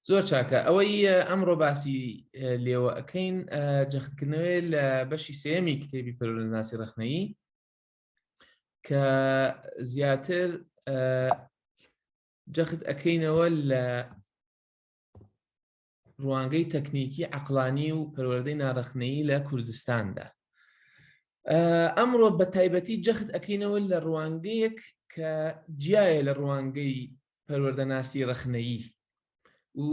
زۆر چاکە ئەوەی ئەمڕۆ باسی لێوە ئەەکەین جەختکردنەوەی لە بەشی سێمی کتێبی پەرۆلناسی ڕخنەیی کە زیاتر جەخت ئەەکەینەوە لە ڕوانگەی تەکنیکی عقلانی و پەروەردەی ناڕەخنەیی لە کوردستاندا ئەمڕۆ بە تایبەتی جەخت ئەکەینەوە لە ڕوانگەیەک کە جیایە لە ڕوانگەی پەروەردەناسی ڕەخنەیی و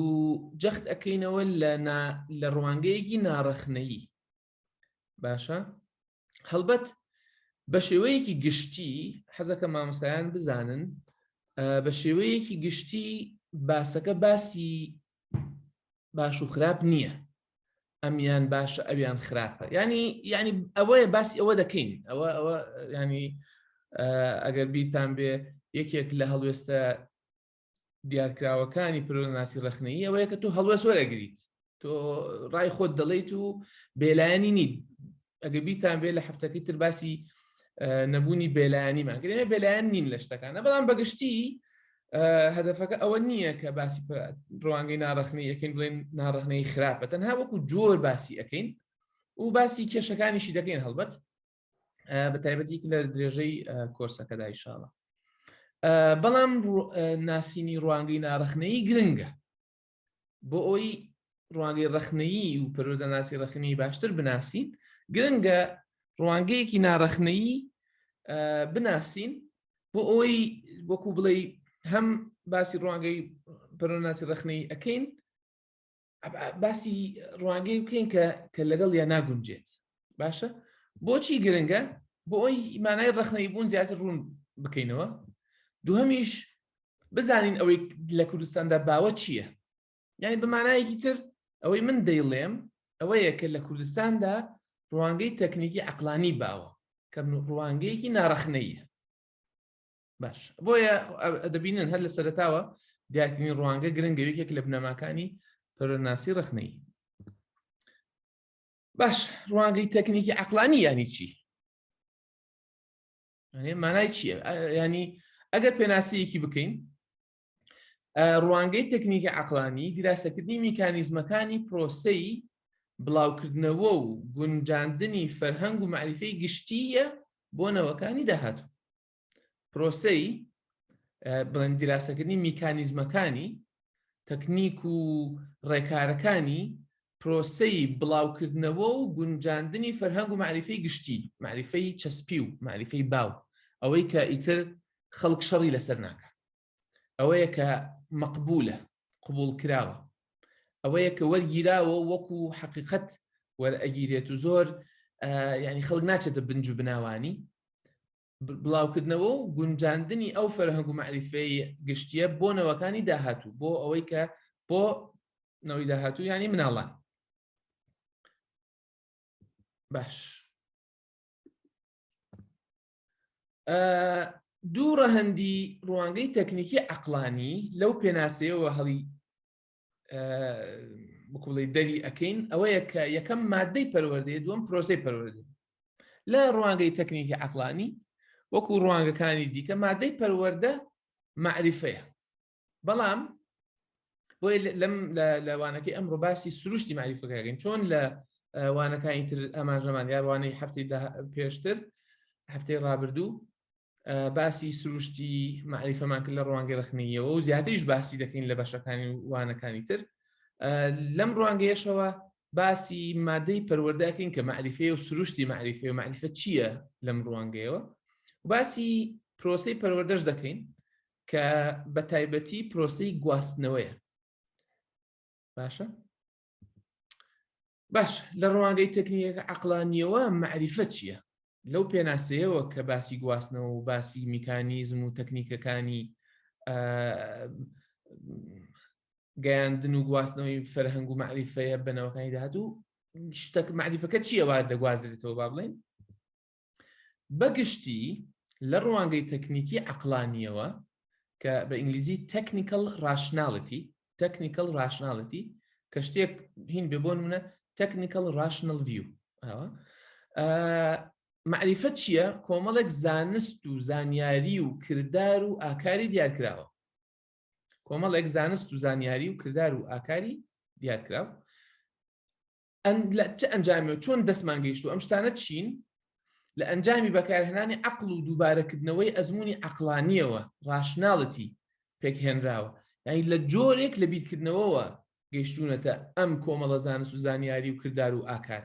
جەخت ئەەکەینەوە لە ڕوانگەیەکی ناڕەخنەیی باشە هەڵبەت بە شێوەیەکی گشتی حەزەکە مامۆستایان بزانن بە شێوەیەکی گشتی باسەکە باسی باش و خراپ نییە ئەمیان باشە ئەویان خراپە ینی ینی ئەوەیە باسی ئەوە دەکەین ئەوە ئەوە ینی ئەگەر بیرتان بێ یەکێک لە هەڵوێستە دیارکراوەکانی پرۆناسی ڕخنەیی ئەوەیە کە تۆ هەڵوێست وەرەگریت تۆ ڕای خۆت دەڵیت و بێلایەنی نی ئەگە بیتان بێ لە هەفتەکەی تر باسی نەبوونی بێلایەنیمان گرێنە بێلایەن نین لە شتەکانە بەڵام بەگشتی هەدفەکە ئەوە نییە کە باسی ڕوانگەی ناڕخنی یەکەین بڵێن ناڕخنەی خراپە تەنها وەکو جۆر باسی ئەەکەین و باسی کێشەکانیشی دەکەین هەڵبەت بە تایبەتی لە درێژەی کۆرسەکەدا ئیشاڵە بەڵام ناسینی ڕوانگەی ناڕخنەی گرنگە بۆ ئەوی ڕوانگەی ڕخنەیی و پەرۆدەناسی ڕخنی باشتر بناسین گرنگە ڕوانگەیەکی ناڕخنەیی بناسین بۆ ئەوەی وەکو بڵێ هەم باسی ڕوانگەی پەرۆناسی ڕخنەی ئەەکەین باسی ڕوانگەی بکەین کە کە لەگەڵ یا ناگونجێت باشە بۆچی گرنگە بۆ ئەوی مانای ڕخنەی بوون زیاتر ڕوون بکەینەوە دووهمیش بزانین ئەوەی لە کوردستاندا باوە چییە یعنی بەمانایەکی تر ئەوەی من دەیڵێم ئەوەیە کە لە کوردستاندا ڕوانگەی تەکنیکی عقلانی باوە کە ڕوانگەیەکی ناڕەخنەیە باش بۆیە دەبینن هەر لە سەرتاوە دیاتنی ڕوانگە گرنگەوێکێک لە بنەماکانی پەرۆناسی ڕخنەی باش ڕوانگەی تەکنیکی عقلانی ینی چی مانای چییە ینی ئەگەر پێناسەیەکی بکەین ڕوانگەی تەکنیکی عقلانی دیراسەکردنی میکانیزمەکانی پرۆسەی بڵاوکردنەوە و گونجاندنی فەرهەنگ و معریفەی گشتیە بۆ نەوەکانی داهاتوو پرۆسەی بڵند دیراسەکردنی میکانیزمەکانی تەکنیک و ڕێکارەکانی پرۆسەی بڵاوکردنەوە و گونجاندنی فەرهەنگ و معریفەی گشتی معریفەی چەسپی و معریفەی باو ئەوەی کە ئیتر خەڵک شەڕی لەسەر ناکە ئەوەیە کە مەقبولە قبوڵکراوە ئەوەیە کە وەرگیراوە وەکو حەقیقەت وەرئەگیرێت و زۆر ینی خەڵک ناچێتە بنج و بناوانی بڵاوکردنەوە و گونجاندنی ئەو فەرهەنگ و معریفەی گشتیە بۆ نەوەکانی داهاتوو بۆ ئەوەی کە بۆ نەوەی داهاتوو ینی مناڵان باش دوو ڕەهەندی ڕوانگەی تەکنیکی عقلانی لەو پێناسەیەوە هەڵی بکوڵی دەری ئەەکەین ئەوەیە کە یەکەم مادەی پەروەردەیە دوم پرۆسی پەروەردە لە ڕوانگەی تەکنیکی عقلانی وەکو ڕوانگەکانی دیکە مادەی پەروەەردە معریفەیە بەڵام بۆی لەم لە وانەکەی ئەم ڕووباسی سروشتی ماریفەکەگەین چۆن لە وانەکانی تر ئەمانژەمان یاروانەی هەفتی پێشتر هەفتەی ڕابردوو باسی سروشتی معریفەمان کرد لە ڕوانگە ڕخنیەوە و زیاتریش باسی دەکەین لە بەشەکانی وانەکانی تر لەم ڕوانگەیەشەوە باسی مادەی پەروەردەکەین کە معریفەیە و سروشتی معریفەیە و معریفە چییە لەم ڕوانگەیەوە باسی پرۆسی پەروەردەش دەکەین کە بەتایبەتی پرۆسەی گواستنەوەیە باشە باش لە ڕوانگەی تەکنیەکە عقلانیەوە معریفە چییە لەو پێناسەیەوە کە باسی گواستنەوە و باسی میکانیزم و تەکنیکەکانی گەیاندن و گواستنەوەی فەرهەنگ و معریفەیە بنەوەکانی داهات و شتەک معریفەکە چیەوە دەگوازرێتەوە با بڵێن بەگشتی لە ڕوانگەی تەکنیکی عەقڵانییەوە کە بە ئینگلیزی تەکنیکەڵ ڕاشناڵیتی تەکنیکەڵ ڕاشناڵیتی کە شتێک هین بێ بۆ نمونە تەکنیکەڵ ڕاشنەڵ ڤیو معریفە چییە کۆمەڵێک زانست و زانیاری و کردار و ئاکاری دیارکراوە کۆمەڵێک زانست و زانیاری و کردار و ئاکاری دیارکراوە لە چ ئەنجامێ چۆن دەستمان گەیشت و ئەم شتانە چین لە ئەنجامی بەکارهێنانی عقل و دووبارەکردنەوەی ئەزمموی عقلانیەوە ڕاشناڵەتی پێکهێنراوە یعنی لە جۆرێک لە بیرکردنەوەەوە گەشتونەتە ئەم کۆمەڵە زانست و زانیاری و کردار و ئاکار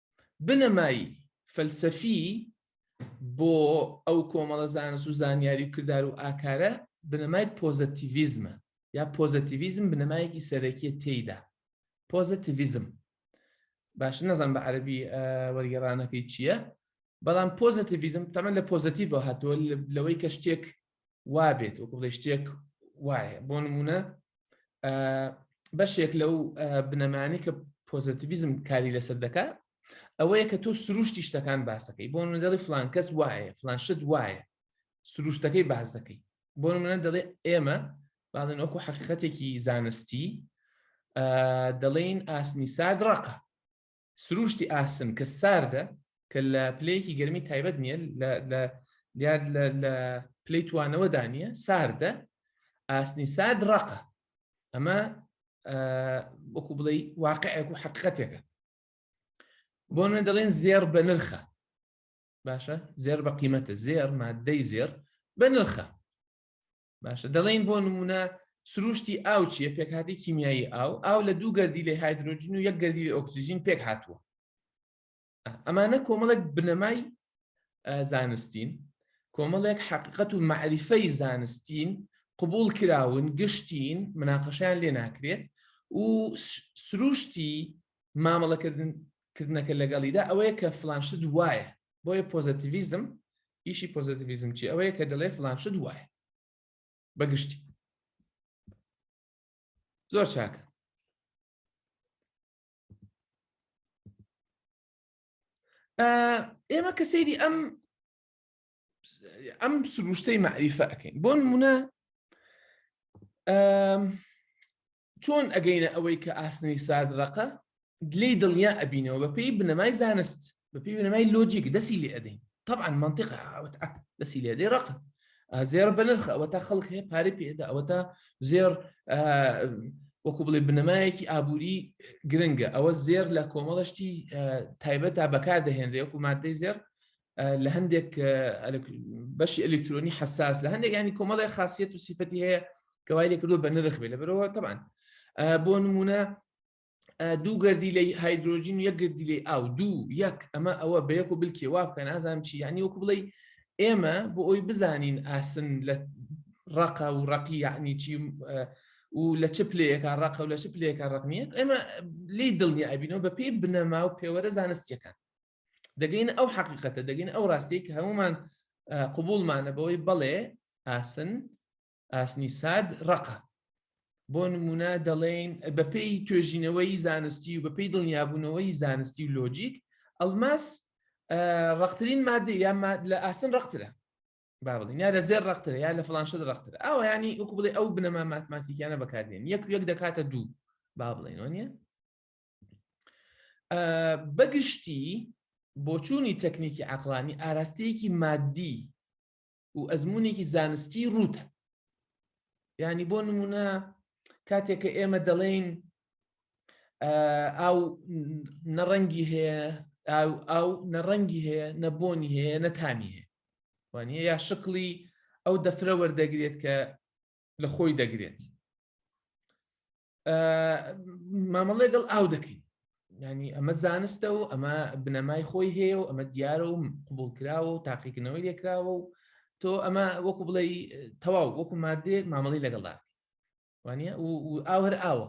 بنەمای فەلسەفی بۆ ئەو کۆمەڵە زانست و زانیاری و کردار و ئاکارە بنەمای پۆزەتیڤیزمە یا پۆزەتیڤیزم بنەمایەکی سەرەکیە تێیدا پۆزەتیڤیزم باش نەزان بە عەربی وەرگێڕانەکەی چییە بەڵام پۆزەتیڤیزم تەمە لە پۆزەتیڤ هاتووە لەوەی کە شتێک وابێت وەکو بڵێ شتێک وایە بۆ نمونە بەشێک لەو بنەمانی کە پۆزتیڤزم کاری لەسەر دەکات ئەوەیە کە تۆ سروشتی شتەکان باسەکەی بۆ من دەڵی فلان کەس وایە فلان شت وایە سروشتەکەی باز دەکەی بۆ منە دەڵێ ئێمە بازن وەکو حقیقەتێکی زانستی دەڵێین ئاسنی سارد ڕقە سرووشتی ئاسن کە ساردە کە لە پلەیەکی گەرمی تایبەت نییە دیار لە پلی توانەوەدا نییە ساردە ئاسنی سارد ڕقە ئەمە وەکو بڵێ واقعێک و حقیقەتێکە بۆ نوێ دەڵێن زێر بە نرخە باشە زێر بە قیمەتە زێر مادەی زێر بە نرخە باشە دەڵێن بۆ نمونە سروشتی ئاو چیە پێکهاتی کیمیایی ئاو ئاو لە دوو گەردی لە هایدروۆجین و یەک گەردی لە ئۆکسسیژین پێک هاتووە ئەمانە کۆمەڵێک بنەمای زانستین کۆمەڵێک حقیقەت و معریفەی زانستین قبول کراون گشتین مناقەشیان لێ ناکرێت و سروشتی مامەڵەکردن کردنەکە لەگەڵیدا ئەوەیە کە فلانشت وایە بۆیە پۆزەتیڤیزم ئیشی پۆزەتیڤیزم چی ئەوەیە کە دەڵێ فلان شت وایە بەگشتی زۆر چاکە ئێمە کە سەیری ئەم ئەم سروشتەی معریفە ئەەکەین بۆ نمونە چۆن ئەگەینە ئەوەی کە ئاسنی سارد ڕەقە لێی دڵنیا ئەبینەوە بە پێی بنەمای زانست بە پێی بنەمای لۆجیک دەسی لێ ئەدەین طبعا منطقە ئاوت دەسی لێ دەی ڕەقە زێر بە نرخە ئەوە تا خەڵک هەیە پارە پێدا ئەوە تا زێر وەکو بڵێ بنەمایەکی ئابووری گرنگە ئەوە زێر لە کۆمەڵشتی تایبەت تا بەکار دەهێنرێ وەکو مادەی زێر لە هەندێک بەشی ئەلکترۆنی حساس لە هەندێک ینی کۆمەڵی خاصیت و سیفەتی هەیە کەوای لێکردو بە نرخ بێ لە بەرەوە تەبان بۆ نمونە دوو گردی لە هایدروۆژین یەک گردی لێ ئاو دوو یەک ئەمە ئەوە بە یەک و بلکێ وا بکە نازانم چی ینی وەکو بڵێ ئێمە بۆ ئەوی بزانین ئاسن لە ڕقە و ڕقی یعنی چی و لە چ پلەیەکە ڕقە و لە چ پلەیەکە ڕقنیە ئێمە لی دڵنیابینەوە بە پێی بنەما و پێوەرە زانستیەکان دەگەین ئەو حەقیقەتە دەگەین ئەو ڕاستەیە کە هەمومان قوبولمانە بەوەی بەڵێ ئاسن ئاسنی سارد ڕقە بۆ نمونە دەڵێین بەپی توێژینەوەی زانستی و بەپی دڵنیابوونەوەی زانستی و لۆجیک ئەلماس ڕخترین مادە یا لە ئاسن ڕخترە با بڵین یا لە زێر ڕخترە یا لە فلانشت ڕختر ئەو ینی وەکو بڵێ ئەو بنەما ماتماتیکیانە بەکاردێن یەک یەک دەکاتە دوو با بڵێنەوە نیە بەگشتی بۆچوونی تەکنیکی عقلانی ئاراستەیەکی مادی و ئەزمونێکی زانستی ڕوتە ینی بۆ نمونە کاتێککە ئێمە دەڵێین ئاو نەڕەنگی هەیە ئاو ئاو نەڕەنگی هەیە نەبوونی هەیە نەتامی هەیە وانە یا شکڵی ئەو دەفرە وەردەگرێت کە لە خۆی دەگرێت مامەڵێ گەڵ ئاو دەکەین ینی ئەمە زانستە و ئەمە بنەمای خۆی هەیە و ئەمە دیارە و قوبول کراوە و تاقیکردنەوەی لێکراوە و تۆ ئەمە وەکو بڵێ تەواو وەکو مادێک مامەڵی لەگەڵدا وانە و ئاو هەر ئاوە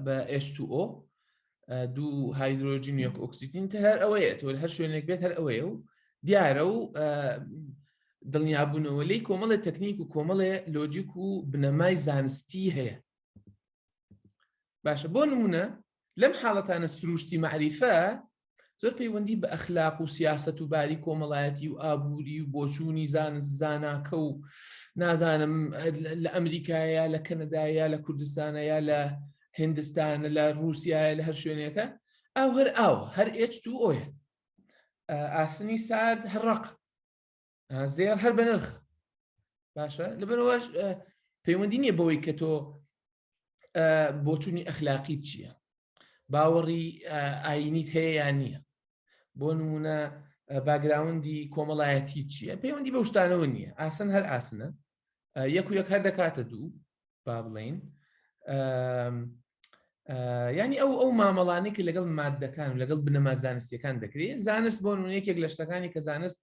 بە ئێشتو ئۆ دوو هایدرۆجین یەک ئۆکسسیتین تە هەر ئەوەیە تۆ هەر شوێنێک بێت هەر ئەوەیە و دیارە و دڵنیابوونەوە لی کۆمەڵێ تەکنیک و کۆمەڵێ لۆجیک و بنەمای زانستی هەیە باشە بۆ نمونە لەم حاڵەتانە سروشتی معریفە زۆر پەیوەندی بە ئەخلاق و سیاست و باری کۆمەڵایەتی و ئابووری و بۆچوونی زانست زاناکە و نازانم لە ئەمریکایە لە کەنەدایە لە کوردستانە یا لە هندستانە لە رووسایە لە هەر شوێنێکە ئەو هەر ئاو هەر ئێچ تو ئۆیە ئاسنی سارد هەڕق زێر هەر بەنرخ باشە لەبەرەوەش پەیوەندی نییە بەوەی کە تۆ بۆچوونی ئەخلاقی چییە باوەڕی ئاینیت هەیە یان نییە بۆ نمونە باگراوندی کۆمەڵایەتی چییە پەیوەندی بە شتانەوە نییە ئاسن هەر ئاسنە یەک و یەک هەر دەکاتە دوو با بڵین ینی ئەو ئەو مامەڵانی کە لەگەڵ مادەکان و لەگەڵ بنەما زانستیەکان دەکرێت زانست بۆ یەکێک لە شتەکانی کە زانست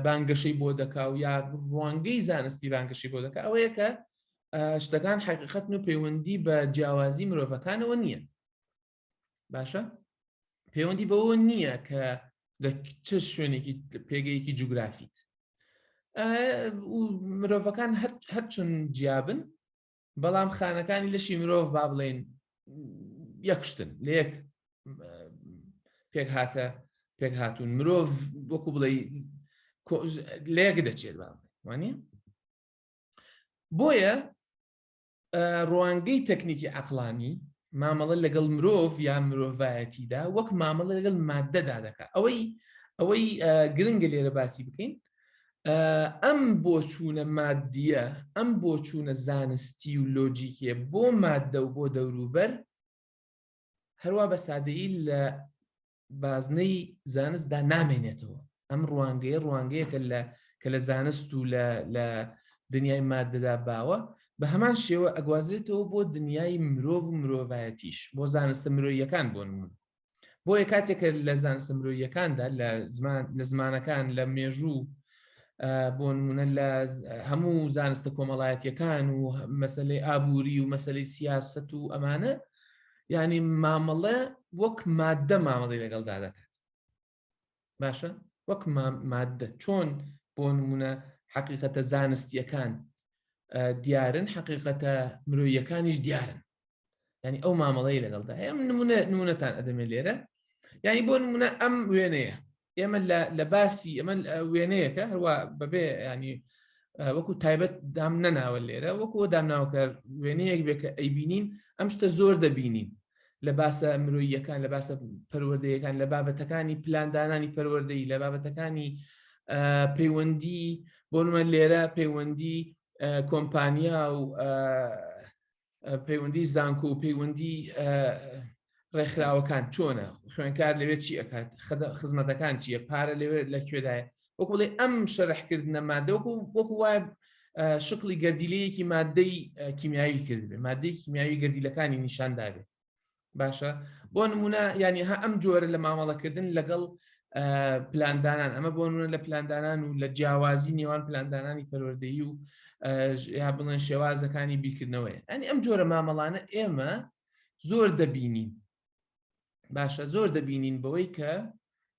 بانگەشەی بۆ دەکا و یا ڕوانگەی زانستی بانگەشی بۆ دەکە ئەوەیە کە شتەکان حقیقەتن و پەیوەندی بە جیاوازی مرۆڤەکانەوە نییە باشە پەیوەندی بەوە نییە کە لە چ شوێنێکی پێگەیەکی جوگرافیت مرۆڤەکان هەرچون جیابن بەڵام خانەکانی لەشی مرۆڤ با بڵێن یەکشتن لە یەک پێک هاتە پێک هاتوون مرۆڤ وەکو بڵێ لەیەک دەچێت وانە بۆیە ڕوانگەی تەکنیکی عقلانی مامەڵە لەگەڵ مرۆڤ یا مرۆڤایەتیدا وەک مامەڵە لەگەڵ مادەدا دەکات ئەوەی ئەوەی گرنگە لێرە باسی بکەین ئەم بۆچوونە مادیە ئەم بۆچوونە زانستی و لۆجیکێ بۆ مادە و بۆ دەوروبەر هەروە بە سادەیی لە بازنەی زانستدا نامێنێتەوە ئەم ڕوانگەیە ڕوانگەیەکە لە کە لە زانست و لە دنیای مادەدا باوە بە هەمان شێوە ئەگوازرێتەوە بۆ دنیای مرۆڤ و مرۆڤایەتیش بۆ زانستە مرۆیەکان بۆ نمون بۆیە کاتێکە لە زانستە مرۆیەکاندا لە زمان لە زمانەکان لە مێژوو بۆ نمونە لە هەموو زانستە کۆمەڵایەتیەکان و مەسلەی ئابووری و مەسلەی سیاست و ئەمانە یعنی مامەڵێ وەک مادە مامەڵی لەگەڵدا دەکات باشە وەک مادە چۆن بۆ نمونە حقیقەتە زانستیەکان دیارن حقیقەتە مرۆیەکانیش دیارن ینی ئەو مامەڵەی لەگەڵدا ئەم نمونە نمونەتان ئەدەمێ لێرە ینی بۆ نمونە ئەم وێنەیە ئێمە لە باسی ئەمە وێنەیەەکە هەروە بەبێ ینی وەکو تایبەت دام نەناوە لێرە وەکو دامناوکە وێنەیەک بێ کە ئەیبینین ئەم شتە زۆر دەبینین لە باسە مرۆییەکان لە باسە پەروەردەیەکان لە بابەتەکانی پلاندانانی پەروەردەی لە بابەتەکانی پەیوەندی بۆنمە لێرە پەیوەندی کۆمپانیا و پەیوەندی زانکۆ و پەیوەندی ڕێکخراوەکان چۆنە خوێنکار لەوێت چی ئەکات خزمەتەکان چییە پارە لەوێت لە کوێدایە وەکوڵێ ئەم شەرحکردنە مادەوەکو وەکو وایە شکڵی گەردیلەیەکی مادەی کیمیاوی کردبێ مادەی کیمیاوی گەردیلەکانی نیشاندابێت باشە بۆ نمونە ینی ها ئەم جۆرە لە مامەڵەکردن لەگەڵ پلاندانان ئەمە بۆ نونە لە پلاندانان و لە جیاوازی نێوان پلاندانانی پەروەردەیی و یا بڵێن شێوازەکانی بیکردنەوەی ئەنی ئەم جۆرە مامەڵانە ئێمە زۆر دەبینین باشە زۆر دەبینین بەوەی کە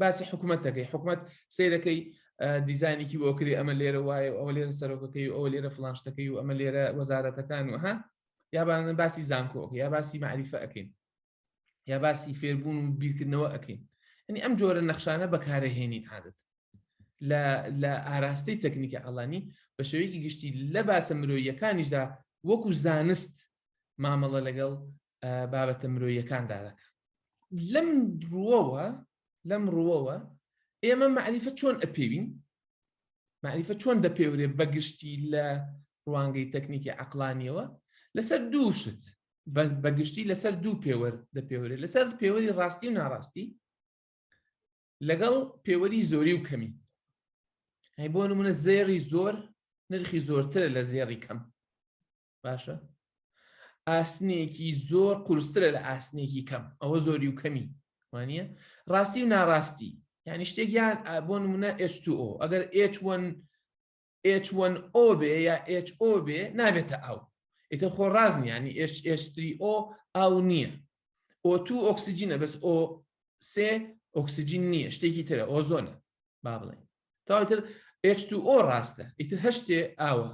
باسی حکوومەت دەکەی حکوومەت سیرەکەی دیزانێکی بۆ کرێ ئەمە لێرە وایە ئەوە لێرە سەرۆکەکەی و ئەوە لێرە فلانشتەکەی و ئەمە لێرە وەزارەتەکان و ها یابانە باسی زانکۆک یا باسی معریفە ئەەکەین یا باسی فێربوون و بیرکردنەوە ئەەکەین ئەنی ئەم جۆرە نەخشانە بەکارەهێنین عادەت لە ئاراستەی تەکنیکی ئەڵانی بە شێوەیەکی گشتی لە باسە مرۆیەکانیشدا وەکو زانست مامەڵە لەگەڵ بابەتە مرۆیەکان دادەکە لەم ڕووەوە لەم ڕووەوە ئێمە معریفە چۆن ئەپێوین معریفە چۆن دەپێورێ بەگشتی لە ڕوانگەی تەکنیکی عقلانیەوە لەسەر دووشت بەس بەگشتی لەسەر دوو پێوەر دەپێورێ لەسەر پێوەری ڕاستی و ناڕاستی لەگەڵ پێوەری زۆری و کەمی هەی بۆ نمونە زێری زۆر نرخی زۆرترە لە زێری کەم باشە ئاسنێکی زۆر قورسترە لە ئاسنێکی کەم ئەوە زۆری و کەمی وانە ڕاستی و ناڕاستی یعنی شتێک یان بۆ نمونە H2O ئەگەر H1 H1O بێ یا HO بێ نابێتە ئەو ئیتر خۆ ڕازنی ینی H3O ئاو نییە O2 ئۆکسسیجینە بەس O سێ ئۆکسسیجین نییە شتێکی ترە ئۆزۆنە با بڵێن تاوتر H2O ڕاستە ئیتر هەشتێ ئاوە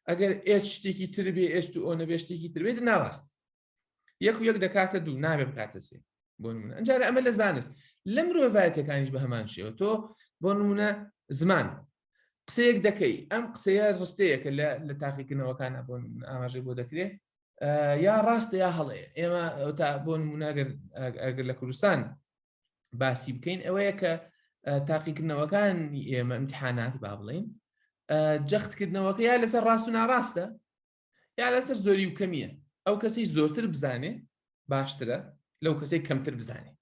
ئەگەر ئێت شتێکی تر بێ ئێشت و ئەو نەبێشتێکی تربێت ناڕاست یەک و یەک دەکاتە دوو نابێ بکاتە سێ بۆ نمونە ئەجارە ئەمە لە زانست لە مرۆڤایەتەکانیش بە هەمان شێوە تۆ بۆ نمونە زمان قسەیەک دەکەی ئەم قسەیە ڕستەیەکە لە لە تاقیکردنەوەکانە بۆ ئاماژەی بۆ دەکرێت یا ڕاستە یا هەڵەیە ئێمە تا بۆ نموناگەر ئەگەر لە کوردستان باسی بکەین ئەوەیە کە تاقیکردنەوەکان ئێمە امتحانات با بڵین جەختکردنەوەکە یا لەسەر ڕاست و ناڕاستە یا لەسەر زۆری و کەمیە ئەو کەسی زۆرتر بزانێ باشترە لەو کەسی کەمتر بزانێ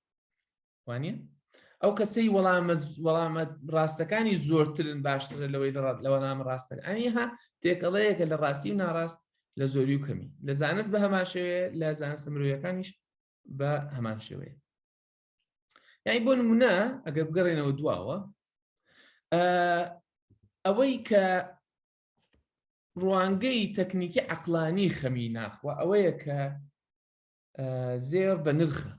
وانە ئەو کەسەی وەڵامە وەڵامە ڕاستەکانی زۆرترن باشترە لەوەی لە وەڵامە ڕاستە ئەنیها تێکەڵەیەکە لە ڕاستی و ناڕاست لە زۆری و کەمی لە زانست بە هەماشەوێ لە زانستە مرۆیەکانیش بە هەمان شێوەیە یعنی بۆ نمونە ئەگەر بگەڕێنەوە دواوە ئەوەی کە ڕوانگەی تەکنیکی عقلانی خەمی ناخوە ئەوەیە کە زێر بە نرخە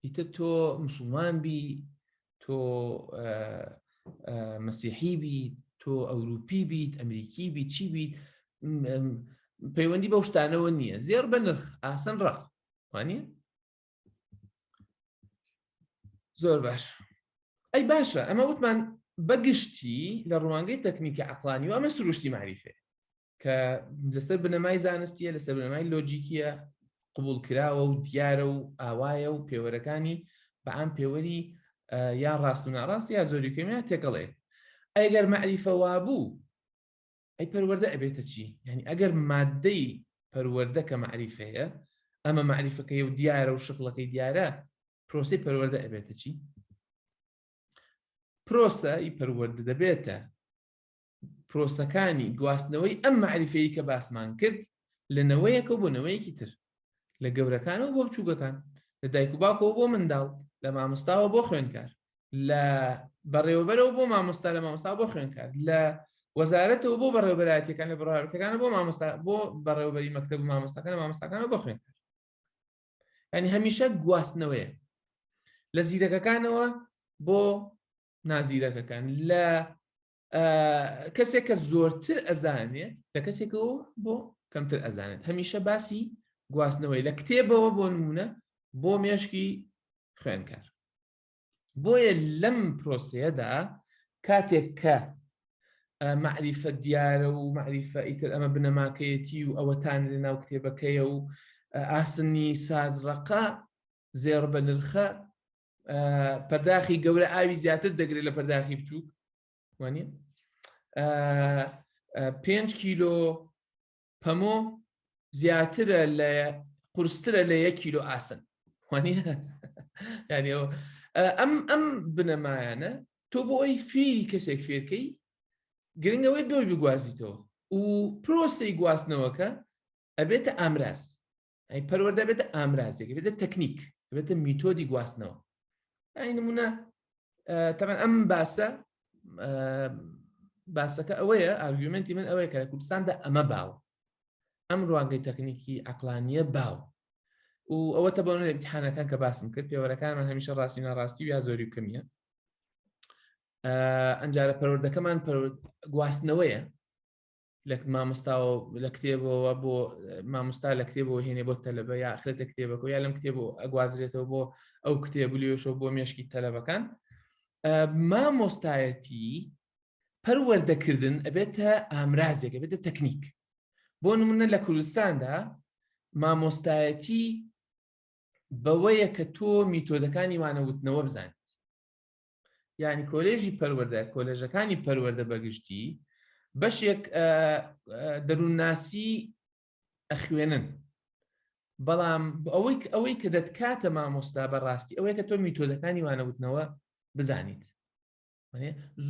ئیتر تۆ مسلمان بی تۆ مەسیحی بیت تۆ ئەوروپی بیت ئەمریکی بیت چی بیت پەیوەندی بەو شتانەوە نییە زێر بە نرخ ئاسن ڕا وانە زۆر باش ئەی باشە ئەمە وتمان بەگشتی لە ڕوانگەی تەکنیکە عقلانیوە ئەمە سروشتی معریفێ کە لەسەر بنەمای زانستیە لەسەر بنەمای لۆجیکیە قبول کراوە و دیارە و ئاوایە و پێوەرەکانی بە ئەم پێوەری یا ڕاست و ناڕاست یا زۆری کەمیان تێکەڵێ ئەگەر مەعریفەوا بوو ئەی پەروەەردە ئەبێتە چی یعنی ئەگەر مادەی پەروەەردە کە مەعریفەیە ئەمە مەعریفەکەی و دیارە و شکڵەکەی دیارە پرۆسی پەروەەردە ئەبێتە چی پرۆسە ئی پەروەەردە دەبێتە پرۆسەکانی گواستنەوەی ئەم مەعریفەیی کە باسمان کرد لە نەوەیەکە بۆ نەوەیەکی تر لە گەورەکانەوە بۆ بچووگەکان لە دایک و باکەوە بۆ منداڵ لە مامۆستاوە بۆ خوێنکار لە بەڕێوەبەرەوە بۆ مامۆستا لە مامۆستا بۆ خوێنکار لە وەزارەتەوە بۆ بەڕێوبەراتەکان لە بڕارەتەکان بۆ مامۆستا بۆ بەڕێوبەری مەکتب مامۆستاکان مامۆستاکان بۆ خوێنکار ینی هەمیشە گواستنەوەیە لە زیرەکەکانەوە بۆ نازیرەکەکان لە کەسێک کە زۆرتر ئەزانێت لە کەسێکەوە بۆ کەمتر ئەزانێت هەمیشە باسی گواستنەوەی لە کتێبەوە بۆ نمونە بۆ مێشکی خوێنکار بۆیە لەم پرۆسەیەدا کاتێک کە معریفە دیارە و معریفە ئیتر ئەمە بنەماکەیەتی و ئەوەتان لە ناو کتێبەکەیە و ئاسنی سادڕەقا زێڕ بە نرخە پەرداخی گەورە ئاوی زیاتر دەگرێت لە پەرداخی بچووک وانە پێنج کیلۆ پەمۆ زیاترە لە قرسترە لە یەک کیلۆ ئاسن وانە ینی ئەم ئەم بنەمایانە تۆ بۆ ئەوی فێری کەسێک فێرکەی گرنگەوەی بۆی بگوازیتەوە و پرۆسی گواستنەوەکە ئەبێتە ئامراز ئەی پەروەردە بێتە ئامرازێک بێتە تەکنیک بێتە میتۆدی گواستنەوە ئەی نمونە تەمان ئەم باسە باسەکە ئەوەیە ئارگومنتی من ئەوەیە کە لە کوردستاندا ئەمە باو ئەم ڕوانگەی تەکنیکی ئەقلانیە باو و ئەوە تە بەەوە امتحانەکان کە باسم کرد پێوەرەکانمان هەمیشە ڕاستی ناڕاستی و یا زۆری کەمیە ئەنجارە پەروەردەکەمان گواستنەوەیە لە مامۆستاوە لە کتێبەوە بۆ مامۆستا لە کتێبەوە هێنێ بۆ تەلەبە یا ئەخرێتە کتێبەکە یا لەم کتێب و ئەگوازرێتەوە بۆ ئەو کتێب لێشەوە بۆ مێشکی تەلەبەکان مامۆستایەتی پەروەردەکردن ئەبێتە ئامرازێک بێتە تەکنیک بۆ نمونە لە کوردستاندا مامۆستایەتی بەوەیە کە تۆ میتۆدەکانی وانەوتنەوە بزانیت یعنی کۆلێژی پەروەەردە کۆلێژەکانی پەروەەردە بەگشتی بەشێک دەروونناسی ئەخوێنن بەڵام ئەوەی ئەوەی کە دەتکاتە مامۆستا بەڕاستی ئەوەیە کە تۆ میتۆدەکانی وانەوتنەوە بزانیت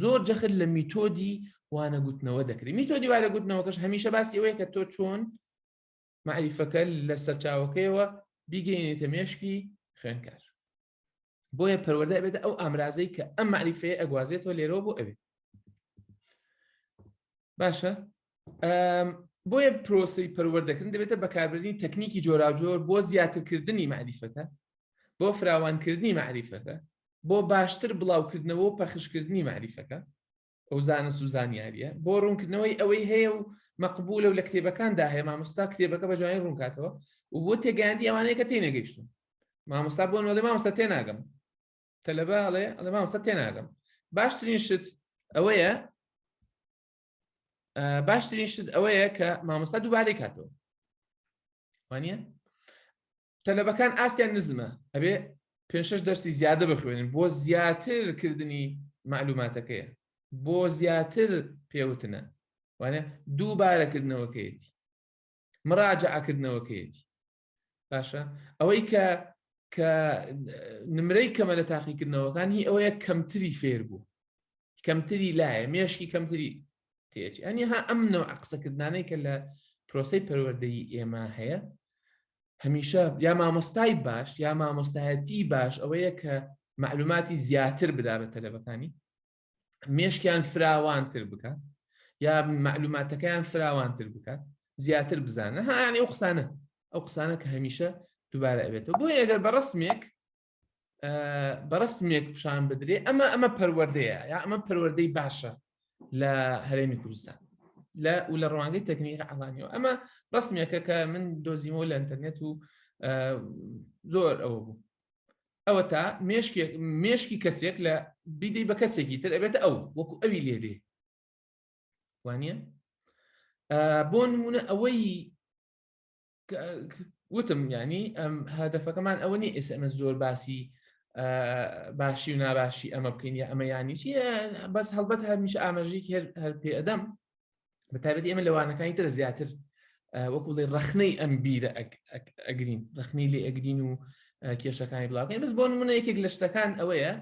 زۆر جەخت لە میتۆدی وانەگوتنەوە دەکرێت میتۆدی وارەگوتنەوەکەش هەمیشە باسی ئەوەیە کە تۆ چۆن معریفەکە لە سەرچاوەکەیەوە بیگەینێتە مێشکی خوێنکار بۆیە پەروەەردە بێت ئەو ئامرازەی کە ئەم معریفەیە ئەگوازێتەوە لێرەوە بۆ ئەوێ باشە بۆیە پرۆسی پەروەردەکردن دەبێتە بەکاربردنی تەکنیکی جۆراوجۆر بۆ زیاترکردنی معریفەکە بۆ فراوانکردنی معریفەکە بۆ باشتر بڵاوکردنەوە و پەخشکردنی معریفەکە ئەو زانست و زانیاریە بۆ ڕوونکردنەوەی ئەوەی هەیە و مەقبولە و لە کتێبەکاندا هەیە مامۆستا کتێبەکە بە جوانی ڕوونکاتەوە و بۆ تێگەیاندی ئەوانەیە کە تێنەگەیشتون مامۆستا بۆ نۆڵێ مامۆستا تێناگەم تەلەبە ئەڵێ ئەڵێ مامۆستا تێناگەم باشترین شت ئەوەیە باشترین شت ئەوەیە کە مامۆستا دووبارەی کاتەوە وانە تەلەبەکان ئاستیان نزمە ئەبێ پێشش دەرسی زیادە بخوێنن بۆ زیاتر کردنی معلوماتەکەیە بۆ زیاتر پێوتنە وانە دووبارەکردنەوەکەیەتی مراجعکردنەوەکەیەتی باشە ئەوەی کە کە نمرەی کەمە لە تاقیکردنەوەکان هی ئەوەیە کەمتری فێر بوو کەمتری لایە مێشکی کەمتری تێچ ئەنی ها ئەم نەوە قسەکردانەی کە لە پرۆسی پەروەردەی ئێمە هەیە هەمیشە یا مامۆستای باش یا مامۆستایەتی باش ئەوەیە کە معلوماتی زیاتر بدا بە تەلەبەکانی مێشکیان فراوانتر بکات یا معلوماتەکەیان فراوانتر بکات زیاتر بزانە هاانی ئەو قسانە ئەو قسانە کە هەمیشە دووبارە ئەبێتەوە بۆ ئەگەر بە ڕسمێک بەڕستمێک پیشان بدرێ ئەمە ئەمە پەروەردەیە یا ئەمە پەروەردەی باشە لە هەرێمی کوردستان لە و لە ڕوانگەی تەکنیک ئەڵانیەوە ئەمە ڕستمێکە کە من دۆزیمەوە لە ئەتەرنێت و زۆر ئەوە بوو ئەوە تا مێشکێک مێشکی کەسێک لە بیدەی بە کەسێکی تر ئەبێت ئەو وەکو ئەوی لێدێ وانە بۆ نمونە ئەوەی وتم ینی ئەم هەدەفەکەمان ئەوە نی ئێستا ئەمە زۆر باسی باشی و ناباشی ئەمە بکەین یا ئەمە ینی چی بەس هەڵبەت هەرمیش ئاماژیک هەر هەر پێ ئەدەم بە تایبەت ئێمە لەوانەکانی تر زیاتر وەکوڵی ڕخنەی ئەم بیرە ئەگرین ڕخنی لێ ئەگرین و کێشەکانی بڵاوکەین بەس بۆ منە یەکێک لە شتەکان ئەوەیە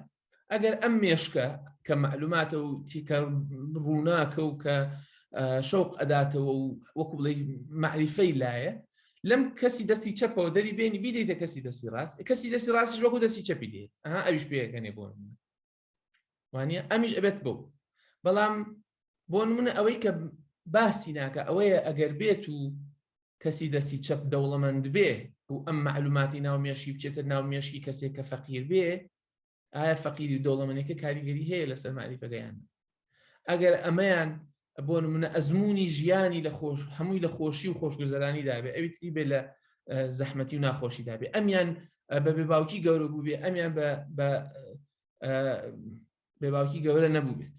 ئەگەر ئەم مێشکە کە معلوماتە و تیکە ڕووناکە و کە شەوق ئەداتەوە و وەکو بڵێ معریفەی لایە لەم کەسی دەستی چەپەوە دەری بێنی بیدەیتە کەسی دەستی ڕاست کەسی دەستی ڕاستش وەکو دەستی چەپی دێت ئەها ئەویش پێەکەنێ بۆ وانە ئەمیش ئەبێت بۆ بەڵام بۆ نمونە ئەوەی کە باسی ناکە ئەوەیە ئەگەر بێت و کەسی دەستی چەپ دەوڵەمەند بێ و ئەم معلوماتی ناو مێشی بچێتە ناو مێشکی کەسێک کە فەقیر بێ ئایا فەقیری و دەوڵەمەنێکە کاریگەری هەیە لەسەر ماریفەکەیان ئەگەر ئەمەیان بۆ نمونە ئەزمموی ژیانی لە خۆش هەمووی لە خۆشی و خۆشگوزەرانی دابێ ئەوی تری بێ لە زەحمەتی و ناخۆشی دابێ ئەمیان بە بێ باوکی گەورە بوو بێ ئەمیان بە بێ باوکی گەورە نەبوو بێت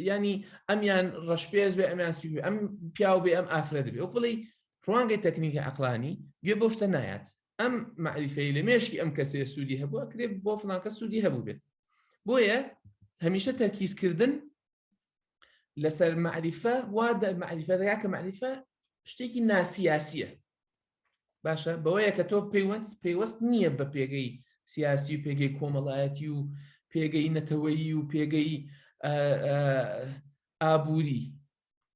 ینی ئەمیان ڕەشپێز بێ ئەمیان سپی بێ ئەم پیاو بێ ئەم ئافرە دەبێ و بڵی ڕوانگەی تەکنیکی عقلانی گوێ بۆ شتە نایەت ئەم معریفەی لە مێشکی ئەم کەسێ سوودی هەبووە کرێ بۆ فلانکە سوودی هەبوو بێت بۆیە هەمیشە تەرکیزکردن لەسەر معریفە وا معریفەکە معریفە شتێکی ناسیاسیە باشە بەوەیە کە تۆ پەیوەند پەیوەست نییە بە پێگەی سیاسی و پێگەی کۆمەڵایەتی و پێگەی نەتەوەیی و پێگەی ئابووری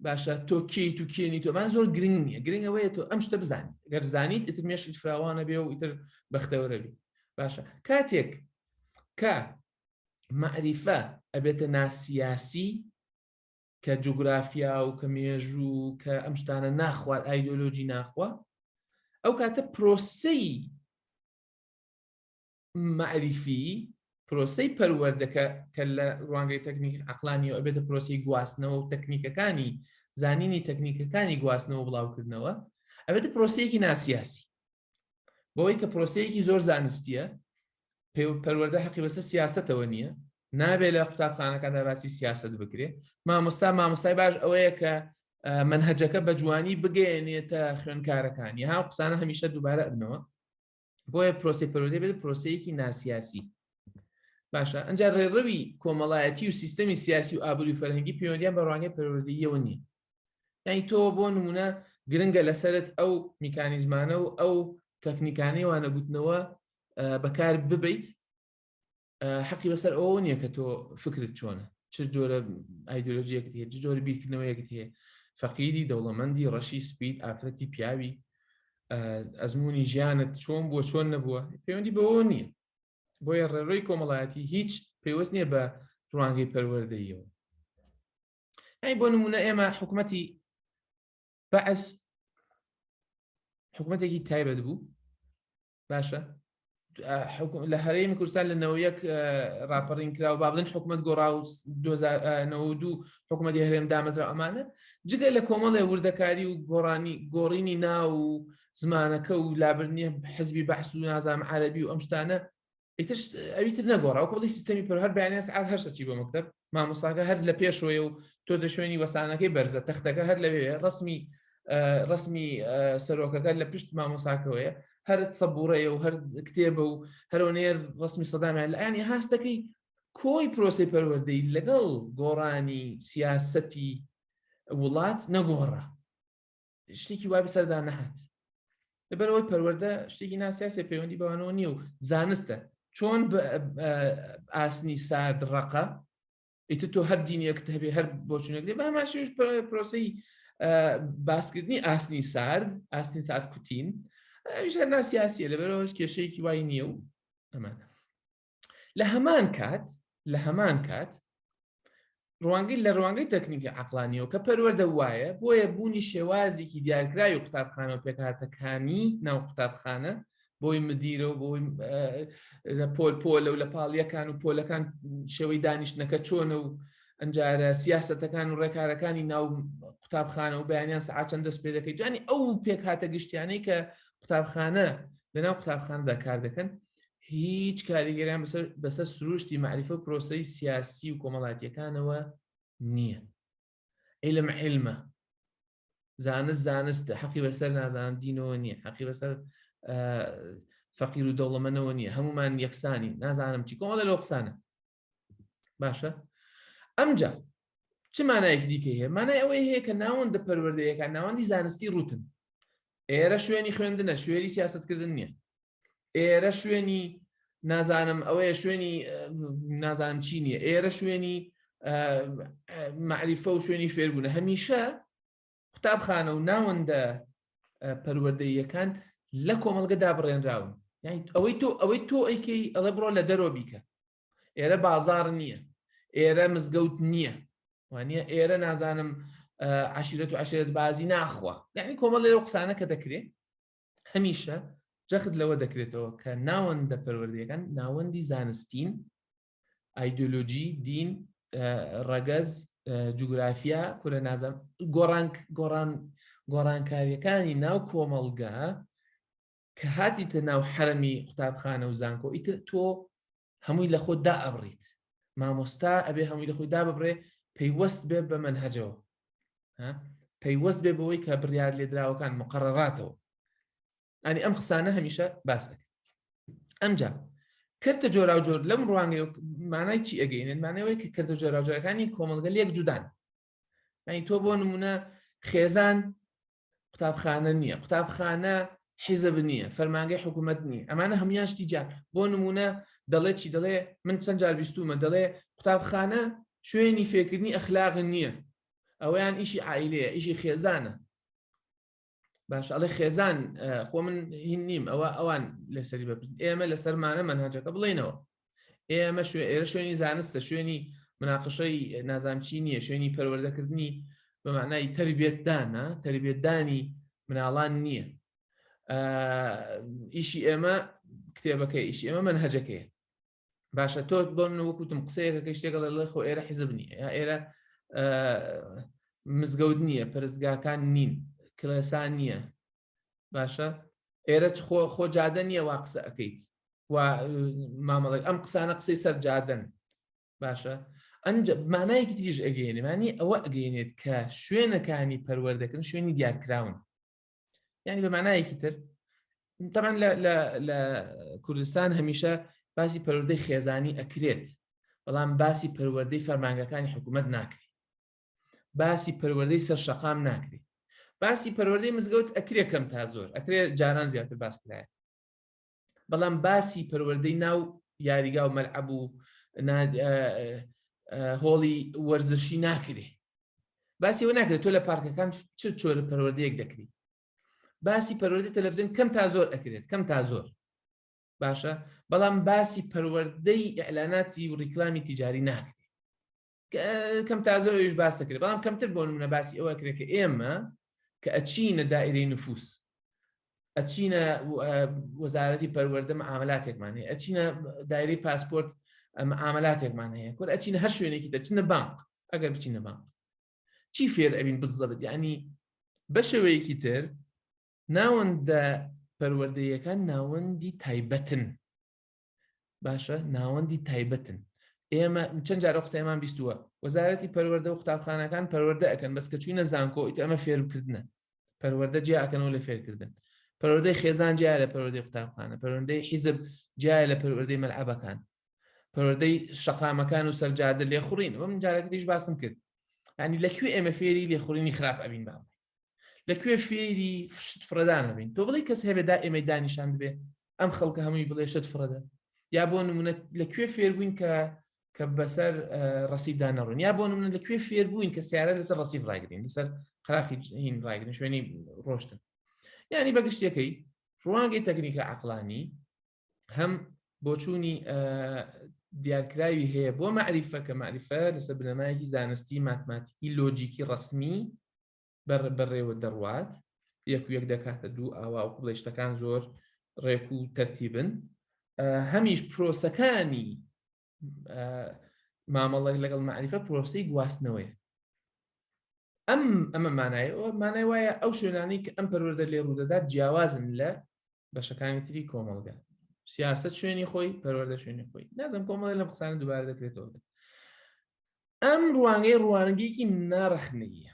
باشە تۆ کیت و کێنی تۆمان زۆر گرنگ نیە گرنگەوەیە تۆ ئەم شتە بزانیت گەر زانیت ئیتر مێشت فراوانە بێ و ئیتر بەختەوەرە بێ باشە کاتێک کە معریفە ئەبێتە ناسیاسی کە جوگرافیا و کە مێژوو کە ئەم شتانە ناخوات ئایدۆلۆژی ناخوا ئەو کاتە پرۆسەی معریفی پرۆسی پەروەردەکە کە لە ڕوانگەی تەکنیک عقلانی و ئەبێتە پرۆسی گواستنەوە و تەکنیکەکانی زانینی تەکنیکەکانی گواستنەوە بڵاوکردنەوە ئەبێتە پرۆسیەکی ناسیاسی بەوەی کە پرۆسەیەکی زۆر زانستیە پەروەەردە حەقی بەسە سیاستەوە نییە نابێت لە قوتابخانەکاندا باسی سیاست بکرێت مامۆستا مامۆستای باش ئەوەیە کە منهجەکە بە جوانی بگەێنێتە خوێنکارەکانی ها قسانە هەمیشە دووبارە ئەبنەوە بۆیە پرۆسی پەرۆدی بێت پرۆسەیەکی ناسیاسی باشە ئەجا ڕێڕەوی کۆمەڵایەتی و سیستەمی سیاسی و ئابووری فەرهەنگی پەیوەندیان بە ڕوانگەی پەرۆدیەوە نییە یعنی تۆ بۆ نمونە گرنگە لەسرت ئەو میکانیزمانە و ئەو تەکنیکانی وانەگوتنەوە بەکار ببیت حەقی بەسەر ئەوە نییە کە تۆ فکرت چۆنە چ جۆرە ئایدۆلۆژیەکت هەیە جۆر بیرکردنەوەیەکت هەیە فەقیری دەوڵەمەندی ڕەشی سپیت ئافرەتی پیاوی ئەزمموی ژیانت چۆن بووە چۆن نەبووە پەیوەندی بەوە نییە بۆیە ڕێڕۆی کۆمەڵایەتی هیچ پێوەست نییە بە ڕوانگەی پەروەردەیەوە ئەی بۆ نمونە ئێمە حکوومەتی بەعس حکوومەتێکی تایبەت بوو باشە لە هەرێمی کوردستان لە نەوە یەک راپەڕین کرا و بابلن حکوومەت گۆڕا و دوو حکوومەتی هەرێم دامەزرا ئەمانە جگە لە کۆمەڵێ وردەکاری و گۆڕانی گۆڕینی ناو و زمانەکە و لابرنیە حزبی بەحس و نازام عربی و ئەم شتانە ئیتر ئەویتر نەگۆڕا وەکو بڵی سیستەمی پر هەر بەیانێس ئاز هەر سەچی بۆ مەکتب مامۆساکە هەر لە پێشۆیە و تۆزە شوێنی وەسانەکەی بەرزە تەختەکە هەر لەوێ ڕسمی ڕسمی سەرۆکەکە لە پشت مامۆساکەوەیە هەر سەبوڕەیە و هەر کتێبە و هەرۆنێر ڕسمی سەدامیان لە ئەنی هاستەکەی کۆی پرۆسی پەروەردەی لەگەڵ گۆڕانی سیاسەتی وڵات نەگۆڕە شتێکی وای بەسەردا نەهات لەبەرەوەی پەروەەردە شتێکی ناسیاسی پەیوەندی بەوانەوە نییە و زانستە چۆن ئاسنی سارد ڕقە ئیتر تۆ هەر دینیەکت هەبێ هەر بۆچونێک دێ باماشیش پرۆسی باسکردنی ئاسنی سارد ئاسنی سارد کوتین ئەویش هەر ناسیاسیە لەبەرەوەش کێشەیەکی وای نییە و ئەمانە لە هەمان کات لە هەمان کات ڕوانگەی لە ڕوانگەی تەکنیکی عقلانیەوە کە پەروەەردە وایە بۆیە بوونی شێوازێکی دیارکراوی قوتابخانە و پێکهاتەکانی ناو قوتابخانە بۆی مدیرە و بۆی لە پۆل پۆلە و لە پاڵیەکان و پۆلەکان شێوەی دانیشتنەکە چۆنە و ئەنجارە سیاستەکان و ڕێکارەکانی ناو قوتابخانە و بەیانیان سعات چەند دەست پێ دەکەیت جوانی ئەو پێکهاتە گشتیانەی کە قوتابخانە لەناو قوتابخانەدا کار دەکەن هیچ کاریگەریان بەسەر بەسەر سروشتی معریفە و پرۆسەی سیاسی و کۆمەڵاتیەکانەوە نییە علم علمە زانست زانستە حەقی بەسەر نازان دینەوە نییە حەقی بەسەر فەقیر و دەوڵەمەنەوە نییە هەمومان یەکسانی نازانم چی کۆمەڵە لە قسانە باشە ئەمجا چ مانایەکی دیکە هەیە مانای ئەوەی هەیە کە ناوەندە پەروەردەیەەکە ناوەندی زانستی ڕوتن ئێرە شوێنی خوێندنە شوێری سیاستکردن نییە ئێرە شوێنی نازانم ئەوەیە شوێنی نازان چی نیە ئێرە شوێنی معریفە و شوێنی فێربوونە هەمیشە قوتابخانە و ناوەندە پەروەردەیەکان لە کۆمەڵگە دابڕێنراون یعنی ئەوەی تۆ ئەوەی تۆ ئەیکەی ئەڵێ بڕۆ لە دەرۆ بیکە ئێرە بازار نییە ئێرە مزگەوت نییە وانە ئێرە نازانم عشیرەت و عشرێت بازی ناخوا یعنی کۆمەڵ لەو قسانە کە دەکرێت هەمیشە جەخت لەوە دەکرێتەوە کە ناوەندە پەروەردەکان ناوەندی زانستین ئایدۆلۆژی دین ڕەگەز جوگرافیا کورە نازم گۆڕان گۆڕان گۆڕانکاریەکانی ناو کۆمەڵگە کە هاتیتە ناو حرەمی قوتابخانە و زانکۆ ئیتر تۆ هەمووی لە خۆ دا ئەبڕیت مامۆستا ئەبێ هەمووی لە خۆی دا ببڕێ پەیوەست بێ بە منهجەوە پەیوەست بێ بەوەی کە بڕیار لێدراوەکان مقرڕاتەوە ئەنی ئەم قسانە هەمیشە باس دەکەن ئەمجا کردە جۆرا و جۆر لەم ڕوانگەی مانای چی ئەگەینێت مانەوەی کە کردە جۆراجارەکانی کۆمەلگە لەک جودان ئەنی تۆ بۆ نمونە خێزان قوتابخانە نییە قوتابخانە حیزب نییە فەرمانگەی حکوومەت نییە ئەمانە هەموان شتی جا بۆ نمونە دەڵێ چی دەڵێ من چەند جار بیستومە دەڵێ قوتابخانە شوێنی فێکردنی ئەخلاغ نییە ئەویان ئیشی عیلەیە ئیشی خێزانە باش ئەڵێ خێزان خۆ من هین نیم ئەوە ئەوان لەسەری بەپرس ئێمە لەسەرمانە منهاجەکە بڵێنەوە ئێمە شوێ ئێرە شوێنی زانستە شوێنی مناقشەی نازانچی نییە شوێنی پەروەردەکردنی بە معنای تربێتدانە تربێتدانی مناڵان نییە ئیشی ئێمە کتێبەکە ئیشی ئێمە منهجەکەی باشە تۆ بۆ من وەکوتم قسەیەکەکە شتێکە لە خۆ ئێرە حیزب نیە یا ئێرە مزگەوت نییە پرستگاکان نین کلێسان نییە باشە ئێرە خۆ خۆ جادە نییە وا قسە ئەەکەیت و مامەڵێک ئەم قسانە قسەی سەر جادن باشە ئەنج مانایەکی تریش ئەگەێنێمانی ئەوە ئەگەێنێت کە شوێنەکانی پەروەردەکردن شوێنی دیارکراون یعنی بە معنایەکی تر تەمان لە کوردستان هەمیشە باسی پەروەردەی خێزانی ئەکرێت بەڵام باسی پەروەردەی فەرمانگەکانی حکوومەت ناکری باسی پەروەردەی سەر شەقام ناکری باسی پەروەردەی مزگەوت ئەکرێ کەم تا زۆر ئەکرێ جاران زیاتر باسکرایە بەڵام باسی پەروەردەی ناو یاریگا و مەلعەب و هۆڵی وەرزشی ناکرێ باسی ئەوە ناکرێت تۆ لە پارکەکان چ چۆرە پەروەردەیەک دەکری باسی پەروەردە تەلەڤزیۆن کەم تا زۆر ئەکرێت کەم تا زۆر باشە بەڵام باسی پەروەردەی ئەلاناتی و ڕیکلامی تجاری ناکرێت کەم تا زۆر ئەویش باس دەکرێت بەڵام کەمتر بۆ نمونە باسی ئەوە کرێت کە ئێمە کە ئەچینە دائیرەی نفوس ئەچینە وەزارەتی پەروەەردە ئاملاتێکمان هەیە ئەچینە دایری پاسپۆرت ئەمە ئاملاتێکمان هەیە کورد ئەچینە هەر شوێنێکی دەچنە بانک ئەگەر بچینە بانک چی فێر ئەبین بزەبت ینی بەشەوەیەکی تر ناوەندە پەروەردەیەکان ناوەندی تایبەتن باشە ناوەندی تایبەتن ئێمە چەند جارە قسەمان بیستووە وەزارەتی پەروەەردە و قوتابخانەکان پەروەەردە ئەەکەن بەس کە چوینە زانکۆ ئیت ئەمە فێرکردنە پەروەەردە جیاکەنەوە لە فێرکردن پەروەەردەی خێزان جیا لە پەروەەردەی قوتابخانە پەروەەردەی حیزب جیا لە پەروەەردەی مەلعبەکان پەروەەردەی شقامەکان و سەرجادە لێخوڕین وە من جارەکەیش باسم کرد ینی لەکوێ ئێمە فێری لێخوڕینی خراپ ئەبین باڵی لە کوێ فێری فشت فرەدان هەبین تۆ بڵی کەس هەبێ دا ئێمەی دانیشان دەبێ ئەم خەڵکە هەمووی بڵێ شت فرەدە یا بۆ نمونە لە کوێ فێربووین کە کە بەسەر ڕسیدا نەڕون یا بۆ نمونە لە کوێ فێربووین کە سیارە لەسەر ڕسیف ڕایگرین لەسەر قراخی هین ڕایگرن شوێنی ڕۆشتن یعنی بەگشتەکەی ڕوانگەی تەکنیکە عقلانی هەم بۆچوونی دیارکراوی هەیە بۆ معریفە کە معریفە لەسەر بنەمایەکی زانستی ماتماتیکی لۆجیکی ڕسمی بەڕێوە دەڕوات یەک یەک دەکاتە دوو ئاوا و قڵێشتەکان زۆر ڕێک و تەرتیبن هەمیش پرۆسەکانی مامەڵێک لەگەڵ معریفە پرۆسی گواستنەوەی ئەم ئەمە مانای مانای وایە ئەو شوێنانی کە ئەم پەروەەردە لێ ڕوودەدات جیاوازن لە بەشەکانی تری کۆمەڵگە سیاست شوێنی خۆی پەروەەردە شوێنی خۆی نازم کۆمەڵی لەم قسانە دووبار دەکرێتەوە ئەم ڕوانگەی ڕوانگەیەکی ناڕخنەیە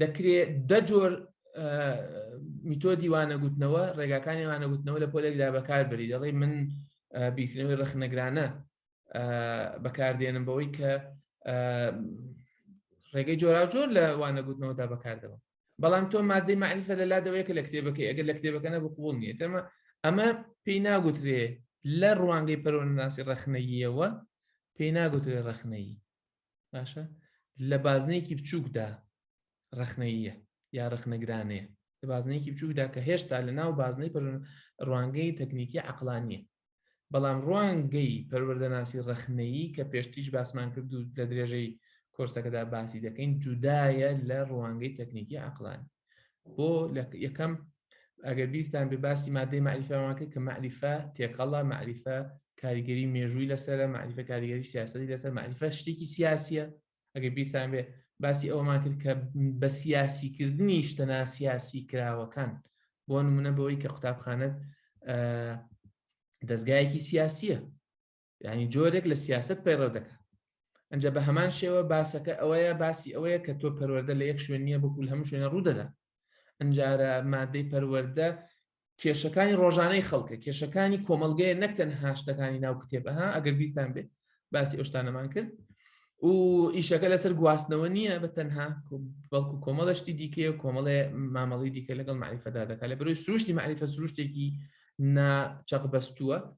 دەکرێت دە جۆر میتۆدی وانەگوتنەوە ڕێگاکانی وانەگوتنەوە لە پۆلێکدا بەکار بری دەڵی من بیرکردنەوەی ڕخنەگرانە بەکاردێنم بەوەی کە ڕێگەی جۆرا جۆر لە وانەگوتنەوەدا بەکاردەوە بەڵام تۆ مادەی معنیفە لە لادەوەیە کە لە کتێبەکەی ئەگەر لە کتێبەکەە بقوڵ نیە تەمە ئەمە پێی ناگوترێ لە ڕوانگەی پەرۆناسی ڕخنەییەوە پێی ناگوترێ ڕخنەیی باشە لە بازنەیەکی بچووکدا ڕخنەیە یا ڕخنەگرانەیە لە بازنەیەکی بچووکدا کە هێشتا لە ناو بازنەی ڕوانگەی تەکنیکی عقلانیە بەڵام ڕوانگەی پەروەردەناسی ڕخنەیی کە پێشتیش باسمان کرد و لە درێژەی کۆرسەکەدا باسی دەکەین جودایە لە ڕوانگەی تەکنیکی عقلانی بۆ لە یەکەم ئەگەر بیرتان بێ باسی مادەی معریفەمانکە کە معریفە تێکەڵە معریفە کاریگەری مێژووی لەسرە معریفە کاریگەری سیاستی لەسەر معریفە شتێکی سیاسیە ئەگەر بیرتان بێ باسی ئەومان کرد کە بە سیاسیکردنی شتەنا سیاسی کراوەکان بۆ نمونە بەوەی کە قوتابخانەت دەستگایەکی سیاسیە یعنی جۆرێک لە سیاست پەیڕەو دەکات ئەجا بە هەمان شێوە باسەکە ئەوەیە باسی ئەوەیە کە تۆ پەروەەردە لە یەک شوێن نییە بکول هەموو شوێنە ڕوودەدا ئەجارە مادەی پەروەەردە کێشەکانی ڕۆژانەی خەڵکە کێشەکانی کۆمەلگەیە نەکتەن هاشتەکانی ناو کتێبەها ئەگەر بیرتان بێت باسی ئەوشتانەمان کرد و ئیشەکە لەسەر گواستنەوە نییە بە تەنها بەڵکو کۆمەڵشتی دیکە و کۆمەڵێ مامەڵی دیکە لەگەڵ معریفەدا دەکات لە بەرەوەی سروشتی معریفە سروشتێکی ناچەق بەستووە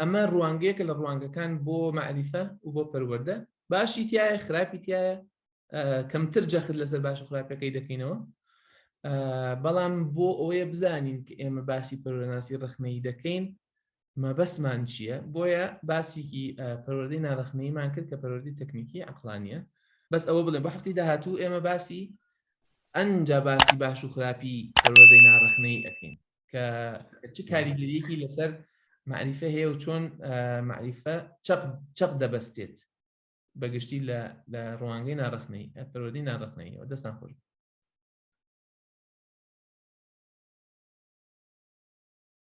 ئەمە ڕوانگەیەکە لە ڕوانگەکان بۆ معریفە و بۆ پەروەەردە باشی تایە خراپی تایە کەمتر جەخت لەسەر باش و خراپەکەی دەکەینەوە بەڵام بۆ ئەوەیە بزانین کە ئێمە باسی پەرۆناسی ڕخنەی دەکەین مەبەسمان چییە بۆیە باسیکی پەروەردەی ناڕخنەیمان کرد کە پەروەردی تەکنیکی عقلانیە بەس ئەوە بڵێ بە هەفتی داهاتوو ئێمە باسی ئەنجا باسی باش و خراپی پەروەردەی ناڕخنەی ئەەکەین کە چ کاریگەریەکی لەسەر معریفە هەیە و چۆن معریفە چەق دەبەستێت بەگشتی لە لە ڕوانگەی ناڕخنەی پەرۆدی ناڕخنەیەوە دەستان خۆش